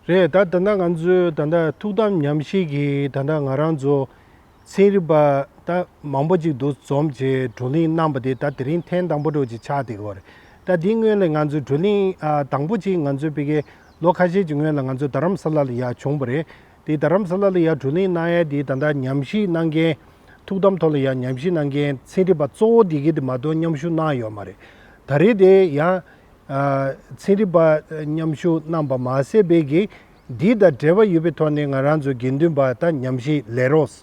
རེད་ད་ད་ལྟ་ང་ཚོའི་ད་ལྟ་ཐུགས་དམ་ཉམས་བཞེས་ཀྱི་ད་ལྟ་ང་རང་ཚོ་ཚན་རིག་པ་ད་མང་པོ་ཅིག་འདུ་འཛོམས་ཀྱི་བགྲོ་གླེང་གནང་བ་དེ་ད་དེ་རིང་ཐེངས་དང་པོ་འགྲོ་ཅིག་ཆགས་བསྡད་ཡོད་རེད་ད་དེའི་སྔོན་ལ་ང་ཚོ་བགྲོ་གླེང་དང་པོ་ཅིག་ང་ཚོའི་དཔེ་ཁའི་ལོ་ཁ་ཤས་ཀྱི་སྔོན་ལ་ང་ཚོ་རྡ་རམ་ས་ལ་ལ་ཡར་བྱུང་བ་རེད་དེ་རྡ་རམ་ས་ལ་ལ་ཡར་བགྲོ་གླེང་གནང་ཡས་དེ་ད་ལྟ་ཉམས་བཞེས་གནང་མཁན་ཐུགས་དམ་ཐོག་ལ་ཡར་ཉམས་བཞེས་གནང་མཁན་ཚན་རིག་པ་གཙོ་བོ་དེ་གས་དེ་མ་གཏོགས་མཉམ་ཞུགས་གནང་ཡོད་མ་རེད་ད་རེད་དེ་ཡང་ཚན་རིག་པ་མཉམ་ཞུགས་གནང་བ་མ་ཟད་བོད་ཀྱི་དེའི་དང་འབྲེལ་བ་ཡོད་པའི་ཐོག་ནས་ང་རང་ཚོའི་དགེ་འདུན་པ་དང་ཉམས་བཞེས་ལས་རོགས་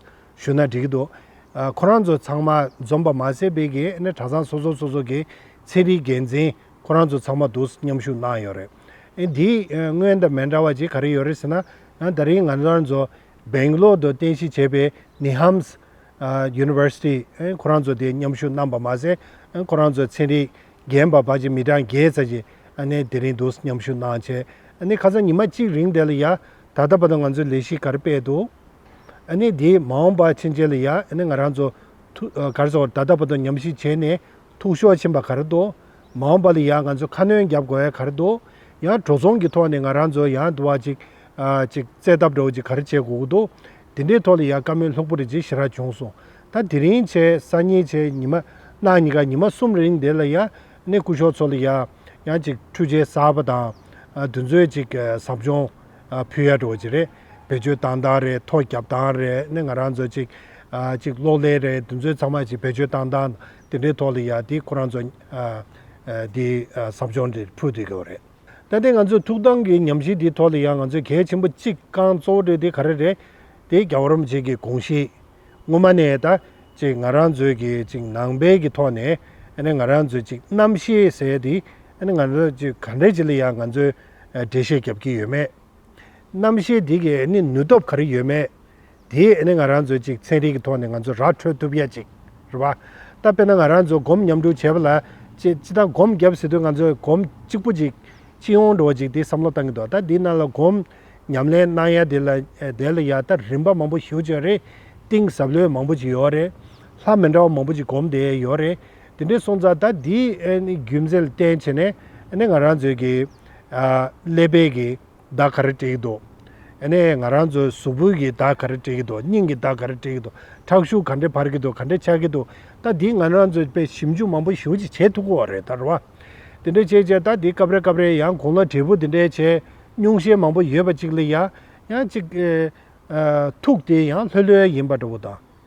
ཞུ་ན་འགྲིག་གི་འདུག་ཁོ་རང་ཚོ་ཚང་མ་འཛོམས་པ་མ་ཟད་བོད་ཀྱི་གྲྭ་ཚང་སོ་སོ་སོ་སོ་གི་ཚན་རིག་འགན་འཛིན་ཁོ་རང་ཚོ་ཚང་མ་འདུག་མཉམ་ཞུགས་གནང་ཡོད་རེད། འདིའི་སྔོན་དང་མེད་འདྲ་བ་ཅིག་ག་རེ་ཡོད་རེད་ཟེར་ན་ད་རིང་ང་རང་ཚོ་སྦེང་གློར་དུ་རྟེན་གཞི་བྱས་པའི་ནི་ཧམ། University། ཁོ་རང་ཚོ་དེ་མཉམ་ཞུགས་གནང་བ་མ་ཟད། ཁོ་རང་ཚོའི་ཚན་རིག་རྒན་པ་བ་ཅི་མི་གྲངས་བརྒྱད་ཙམ་ཞིག་དེ་རིང་འདུག་མཉམ་ཞུགས་གནང་བྱས། ཁ་སང་ཉི་མ་གཅིག་རིང་དེ་ལ་ཡ། ད་ལྟ་བར་དུ་ང་ཚོའི་ལས་གཞི་གར་སྤེལ་འདུག། དེ་མ་འོངས་པ་ཕྱིན་ཆད་ལ་ཡ། ང་རང་ཚོ། གར་ཚོགས་ད་ལྟ་བར་དུ་ཉམས་ཞིབ་བྱས་ནས་ཐུགས་ཤོར་ཕྱིན་པ་གར་འདུག། མ་འོངས་པ་ལ་ཡ་ང་ཚོས་ཁ་སྣོན་བརྒྱབ་དགོས་ཡ་གར་འདུག། ཡང་བྲོ་ཚོང་གི་ཐོག་ནས་ང་རང་ཚོ་ཡང་དུ་བ་ཅིག། ཅིག་བཙལ་ཐབས་འདྲ་བོ་ཅིག་གར་བྱེད་དགོས་ཀྱི་འདུག། དེ་འདྲའི་ཐོག་ལ་ཡང་བཀའ་མོལ་ལྷུག་པོ་རེ་བྱེད་ཤེས་ར་བྱུང་སོང། ད་དེ་རིང་བྱས་ས་གཉིས་བྱས་ཉི་མ་གནངས་གཉིས་ཀ་ཉི་མ་གསུམ་རིང་དེ་ལ་ཡང་ནས་སྐུ་ཞོགས་ཚོ་ལ་ཡང་ཡང་ཅིག་ཁྲུས་བྱས་གསར་པ་དང་དུས་ཚོད་ཅིག་ཟབ་སྦྱོང་ཕུལ་ཡ་འགྲོ་བ་ཅིག་རེད་བེད་སྤྱོད་བཏང་སྟངས་རེད་ཐོ་བརྒྱབ་སྟངས་རེད་ནས་ང་རང་ཚོ་ཅིག་ཅིག་གློག་ཀླད་རེད་དུས་ཚོད་ཚང་མ་ཅིག་བེད་སྤྱོད་བཏང་སྟངས་དེ་འདྲའི་ཐོག་ལ་ཡང་དེ་ཁོ་རང་ཚོ་དེ་ཟབ་སྦྱོང་དེ་ཕུལ་དགོས་རེད། ལྟ་དེ་ང་ཚོས་ཐུགས་སྡང་གི་ཉམས་ཞིབ་འདིའི་ཐོག་ལ་ཡང་ང་ཚོས་གལ་ཆེན་པོ་གཅིག་རྐང་གཙོ་བོ་འདྲི་དེ་ག་རེ་རེད་དེ་རྒྱ་བོད་རོམ་བཅས་ཀྱི་གོང་གཞིས་སྔོན་མ་ནས་ད་ཅིག་ང་རང་ཚོའི་གི་ཅིག་ནང་པའི་གི་ཐོག་ནས་ང་རང་ཚོའི་ཅིག་རྣམ་ཤེས་ཟེར་དེ་ང་ཚོ་ཅིག་ག་འདྲ་ཅིག་ལ་ཡང་ང་ཚོས་འགྲེལ་བཤད་རྒྱབ་ཀྱི་ཡོད་མེད་རྣམ་ཤེས་དེ་གི་ནུས་སྟོབས་ག་རེ་ཡོད་མེད་དེ་ནི་ང་རང་ཚོས་ཅིག་ཚན་རིག་གི་ཐོག་ནས་ང་ཚོ་ར་འཕྲོད་ཐུབ་ཡ་ཅིག་རེད་བ། ད་དཔེར་ན་ང་རང་ཚོ་སྒོམ་མཉམ་དྲུག་བྱས་པ་ལ། ཅེ་ཅི་ད་སྒོམ་བརྒྱབ་ཟེར་དུས་ང་ཚོས་སྒོམ་གཅིག་པོ་ཅིག་ཅི་ཡོང་འགྲོ་བ་ཅིག་དེ་བསམ་བློ་བཏང་གི་འདུག་ད་འདི་ནང་ལ་སྒོམ་ཉམས་ལེན་གནང་ཡ་དེ་ལ་དེ་ལ་ཡ་ད་རིམ་པ་མང་པོ་ཞུ་བྱས་རེད། གཏིང་ཟབ་ལོས་མང་པོ་ཅིག་ཡོད་རེད། ལྷ་མི་འདྲ་བ་མང་པོ་ཅིག་སྒོམ་བསྡད་ཡ་ཡོད་རེད། དེ་འདྲའི་སོང་ཙང་ད་འདི་ནི་རྒྱུ་མཚན་ལ་བརྟེན་བྱས་ནས་ནི་ང་རང་ཚོའི་གི་ཀླད་པའི་གི། བདག་ག་རེ་བྲིས་ཀྱི་འདུག། ཨ་ནེ། ང་རང་ཚོའི་གཟུགས་པོའི་གི་བདག་ག་རེ་བྲིས་ཀྱི་འདུག་སྙིང་གི་བདག་ག་རེ་བྲིས་ཀྱི་འདུག་ཁྲག་ཤུགས་ག་འདྲེ་འཕར་གྱི་འདུག་ག་འདྲེ་ཆགས་ཀྱི་འདུག་ད་འདི་ང་རང་ཚོས་དཔེ་ཞིབ་འཇུག་མང་པོ་ཞིག་ཅིག་བྱེད་ཐུབ་གོ་རེད་ད་རོ། དེ་འདྲ་བྱས་བྱས་ད་འདི་སྐབས་རེ་སྐབས་རེ་ཡང་གུང་ལ་དྲིལ་བུ་དེ་འདྲའི་ཆེ་སྙུང་ཤས་མང་པོ་ཡོད་པ་ཅིག་ལ་ཡང་ཡང་ཅིག། ཐུག་དེ་ཡང་ལྷོད་ལྷོད་ཡིན་པ་འདྲ་བོ་དང།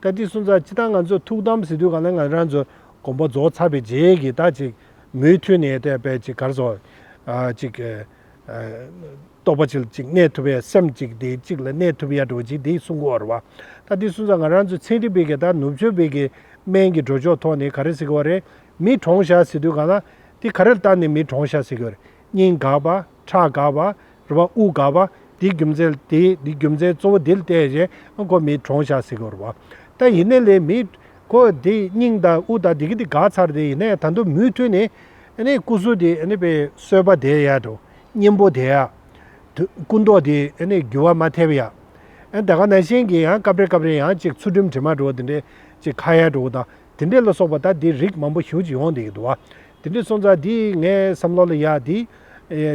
བཀའ་ཁྲི་སུ་འཛག་ཅི་ད་ང་ཚོས་ཐུགས་དམ་ཟི་དུས་གང་ན་ང་རང་ཚོ་དགོངས་པ་རྫོགས་ཚར་བའི་རྗེས་ཀྱི་ད་ཅིག་མུས་མཐུད་ནས་ད་བས་ཅིག་གར་སོང་ཅིག། རྟོགས་པ་ཅིག་ལ་ཅིག་གནས་ཐུབ་ཡ་སེམས་ཅིག་དེ་ཅིག་ལ་གནས་ཐུབ་ཡ་འགྲོ་ཅིག་དེ་གསུང་གོ་ར་བ། བཀའ་ཁྲི་སུ་འཛག་ང་རང་ཚོ་ཚན་རིག་པས་ཀྱི་ད་ནུབ་ཕྱོགས་བས་ཀྱི་སྨན་གྱི་འགྲོ་ཕྱོགས་ཐོག་ནས་ག་རེ་ཟེར་གི་བ་རེད་མི་གྲོངས་བཞག་ཟི་དུས་གང་ན་དེ་ག་རེ་ལྟར་ནས་མི་གྲོངས་བཞག་ཟེར་གི་བ་རེད་སྙིང་དགག་པ། ཁྲག་དགའ་བ། རུ་བ་དབུགས་དགའ་བ། དེའི་རྒྱུ་མཚན། དེའི་རྒྱུ་མཚན་གཙོ་བོ་དེ་ལ་བལྟས་ཞེ་ན་ཁོ་མིའི་གྲོང་ཤག་ཟེར་གི་རུ་བ། ད་ཡིན་ནའི་ལས་མི། ཁོ་དེ་སྙིང་དང་དབུགས་དང་དེ་གི་དེ་དགའ་ཚར་དེ་ཡིན་ནའི་ད་དུ་མུས་མཐུན་ནི། ནི་སྐུ་གཟུགས་དེ་ནི་པའི་གསོལ་བ་དེ་ཡ་དོ། སྙིང་པོ་དེ་ཡ། དུ་སྐུ་མདོག་དེ་ནི་རྒྱུ་བ་མ་ཐེབས་ཡ། ད་ག་ན་ཤིང་གི་ཡང་སྐབས་རེ་སྐབས་རེ་ཡང་ཅིག་ཚུར་འགྲིམ་དྲི་མ་དྲོ་དེ་འདྲའི་ཅིག་ཁ་ཡ་དྲོ་དང་དེ་འདྲས་ལ་སོགས་པ་དག་དེའི་རིགས་མང་པོ་ཞུ་ཅིག་འོང་འདི་ཡི་དུ་བ། དེ་འདྲས་སོང་ཙང་འདིས་ངའི་བསམ་བློ་ལ་ཡག་འདི།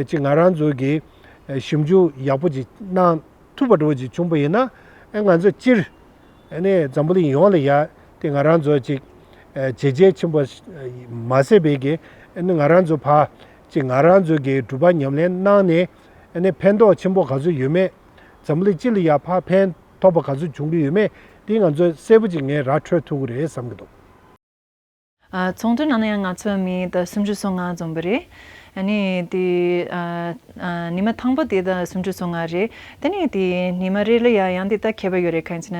ཅིག་ང་རང་ཚོ་གི་ཞིབ་འཇུག་ཡག་པོ་ཅིག་གནང་ཐུབ་པ་འགྲོ་བ་ཅིག་བྱུང་པ་ཡིན་ན། ང་ཚོ་སྤྱིར། འཛམ་བུ་གླིང་ཡོངས་ལ་ཡག་དེ་ང་རང་ཚོ་ཅིག་བྱས་རྒྱལ་ཆེན་པོ་མ་ཟད་པའི་གི་ང་རང་ཚོ་ཕ། ཅིག་ང་རང་ཚོ་གི་གྲུབ་པ་ཉམས་ལེན་གནང་ནས། ཕན་ཐོགས་ཆེན་པོ་ག་ཚོད་ཡོད་མེད་འཛམ་བུ་གླིང་སྤྱི་ལ་ཡག་ཕ་ཕན། ཐོག་པ་ག་ཚོད་བྱུང་གི་ཡོད་མེད་དེ་ང་ཚོས་གསལ་པོ་ཅིག་ངའི་ར་འཕྲོད་ཐུབ་ཀྱི་རེད་བསམ་གྱི་འདུག། ཚོང་དོན་ནང་ན་ཡང་ང་ཚོས་མི་དང་སུམ་ཅུ་སོ་ལྔ་འཛོམས་པ་རེད། ནི་དེ་ནི་མ་དང་པོ་དེ་དང་སུམ་ཅུ་སོ་ལྔ་རེད། དེ་ནི་དེ་ནི་མ་རེད་ལ་ཡ་ཡང་དེ་ལྟ་མཁས་པ་ཡོད་རེད་གང་ཅི་ན་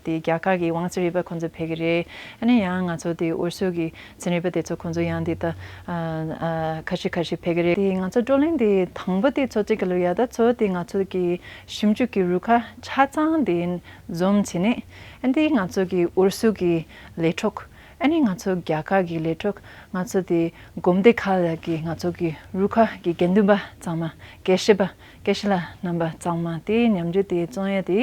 དེ་རྒྱ་གར་གྱི་ཝང་ཚིན་རིག་པ་ཁོང་ཚོ་ཕེབས་ཀྱི་རེད། ནི་ཡང་ང་ཚོ་དེ་འོད་ཟོལ་གྱི་ཚིན་རིག་པ་དེ་ཚོ་ཁོང་ཚོ་ཡང་དེ་ལྟ་ཁ་ཤི་ཁ་ཤི་ཕེབས་ཀྱི་རེད། དེ་ང་ཚོ་བགྲོ་གླེང་དེ་དང་པོ་དེ་ཚོ་གཅིག་གི་ལོ་ཡ་ད་ཚོ་དེ་ང་ཚོ་གི་ཞིབ་འཇུག་གི་རུ་ཁག་ཆ་ཚང་འདི་འཛོམས་བྱས་ནས། འདི་ང་ཚོ་གི་ཨུ་རུ་སུ་གི་ལས་གྲོགས། འདི་ང་ཚོ་རྒྱ་གར་གི་ལས་གྲོགས། ང་ཚོ་དེ་སྒོམ་སྡེ་ཁག་ལ་གི་ང་ཚོ་གི་རུ་ཁག་གི་དགེ་འདུན་པ་གཙང་མ་དགེ་བཤེས་པ་དགེ་བཤེས་ལ་རྣམ་པ་གཙང་མ་དེ་ཉམས་འགྱུར་དེ་བཙོང་ཡ་དེ།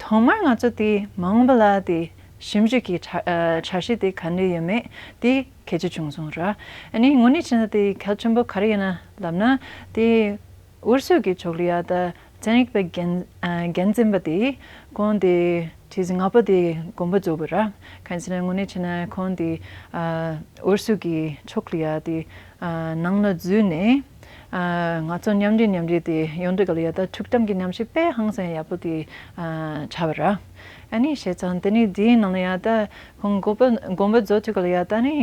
ཐོག་མར་ང་ཚོ་དེ་མ་འོངས་པ་ལ་དེ་ཞིབ་འཇུག་གི་འཆར་གཞི་དེ་ག་འདྲས་ཡོད་མེད་དེ་གལ་ཆེ་བྱུང་སོང་ར། དངོས་གནས་ཕྱིན་ན་དེ་གལ་ཆེན་པོ་ག་རེ་ཡིན་ལབ་ན་དེ། འུར་ཆོས་ཀྱི་ཕྱོགས་ལ་ཡ་ད་ཅན་རིག་པའི་རྒྱན་འཛིན་པ་དེས་ཁོང་དེ་ཁྲིད་ཟིན་ང་པོ་དེ་དགོངས་པ་རྫོགས་པའི་ར་གན་ཆེ་ན་དངོས་གནས་ཆེ་ན་ཁོང་དེ་འུར་ཆོས་ཀྱི་ཕྱོགས་ལ་ཡ་དེ་ནང་ལ་འཛུལ་ནས་ང་ཚོ་མཉམ་འབྲེལ་མཉམ་འབྲེལ་དེ་ཡོང་འདོད་ག་ལ་ཡ་ད་ཐུགས་དམ་གྱི་ཉམས་ཞིག་དཔེ་ཧང་སང་ཡག་པོ་དེ་བྱ་བ་ར་ཨ་ནི་བྱས་ཙང་དེ་ནི་དེའི་ནང་ལ་ཡ་ད་ཁོང་དགོངས་པ་རྫོགས་དུས་ག་ལ་ཡ་ད་ནི་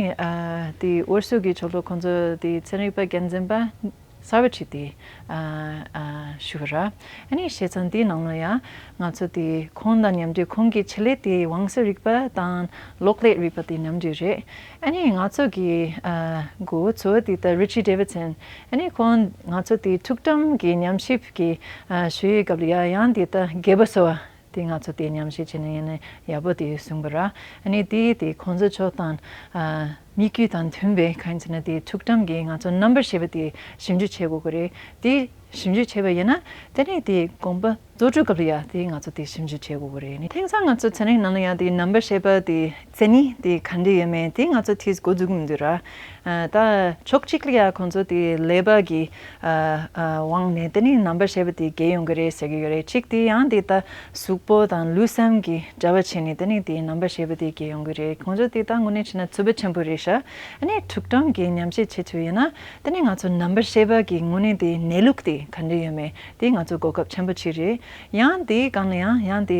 དེ་འུར་ཆོས་ཀྱི་ཕྱོགས་ལ་ཁོང་ཚོ་དེ་ཚན་རིག་པ་རྒྱན་འཛིན་པ། Savitri། དེ་ཞུ་གི་རེད། ཨཱ་ནི་ཞེས་ཚང་དེའི་ནང་ལ་ཡང་ང་ཚོ་དེ་ཁོང་དང་མཉམ་འདྲེས་ཁོང་གི་བྱེད་ལས་དེ་བང་སོའི་རིག་པ་དང་གློག་ཀླད་རིག་པ་དེ་མཉམ་འདྲེས་རེད། ཨཱ་ནི་ང་ཚོ་གི་མགོ་བོ་ཚོ་དེ་ལྟར Richie Davidson ཨཱ་ནི་ཁོང་ང་ཚོ་དེ་ཐུགས་དམ་གྱི་ཉམས་ཞིབ་ཀྱི་ཞུ་ཡི་སྐབས་ལ་ཡང་དེ་ལྟར་རྒད་པོ་སོ་དེ་ང་ཚོ་དེ་ཉམས་བཞེས་བྱེད་ནི་ཡིན་ནི་ཡག་པོ་དེ་གསུངས་པ་ར་ནི་དེ་དེ་ཁོང་ཚོ་ཕྱོགས་དང་མི་རྒྱུད་དང་མཐུན་པའི་གང་ཡིན་ཟེར་ན་དེ་ཐུགས་དམ་གྱི་ང་ཚོ་རྣམ་པར་ཤེས་པ་དེ་ཞིབ་འཇུག་བྱེད་དགོས་ཀྱི་རེད་དེ་ཞིབ་འཇུག་བྱེད་པ་ཡིན་ན་དེ་ནས་དེ་དགོངས་པ་རྫོགས་གྲོལ་སྐབས་ལ་ཡང་དེ་ང་ཚོ་དེ་ཞིབ་འཇུག་བྱེད་དགོས་ཀྱི་རེད་དེ་དེང་སང་ང་ཚོ་ཚན་རིག་ནང་ལ་ཡང་དེ་རྣམ་པར་ཤེས་པ་དེ་མཚན་ནི་དེ་ག་འདྲས་ཡོད་མེད་དེ་ང་ཚོ་ཐུས་གོ་འཛུགས་མི་འདུག་ར། ད་ཕྱོགས་གཅིག་ལ་ཡ་ཁོང་ཚོ་དེ་ལས་བབ་ཀྱི་དབང་ནས་དེ་ནི་རྣམ་པ་ཞེས་པ་དེ་རྒྱས་ཡོང་གི་རེད་ཟེར་གྱི་ཡོད་རེད་གཅིག་དེ་ཡང་དེ་ད་གཟུགས་པོ་དང་ལུས་སེམས་ཀྱི་འདྲ་བ་བྱས་ནས་དེ་ནི་དེའི་རྣམ་པ་ཞེས་པ་དེ་རྒྱས་ཡོང་གི་རེད་ཁོང་ཚོ་དེ་ད་དངོས་གནས་བྱས་ན་རྩུབ་པོ་ཆེན་པོ་རེད་ཤ་ནི་དྲུག་སྦྲང་གིས་ཉམས་བཞེས་བྱེད་ཚུལ་ཡིན་ན་དེ་ནི་ང་ཚོ་རྣམ་པ་ཞེས་པ་ཀྱི་དངོས་གནས་དེའི་གནས་ལུགས་དེ་ག་འདྲས་ཡོད་མེད་དེ་ང་ཚོ་གོ་སྐབས་ཆེན་པོ་གཅིག་རེད་ཡང་དེའི་སྒང་ལ་ཡང་ཡང་དེ།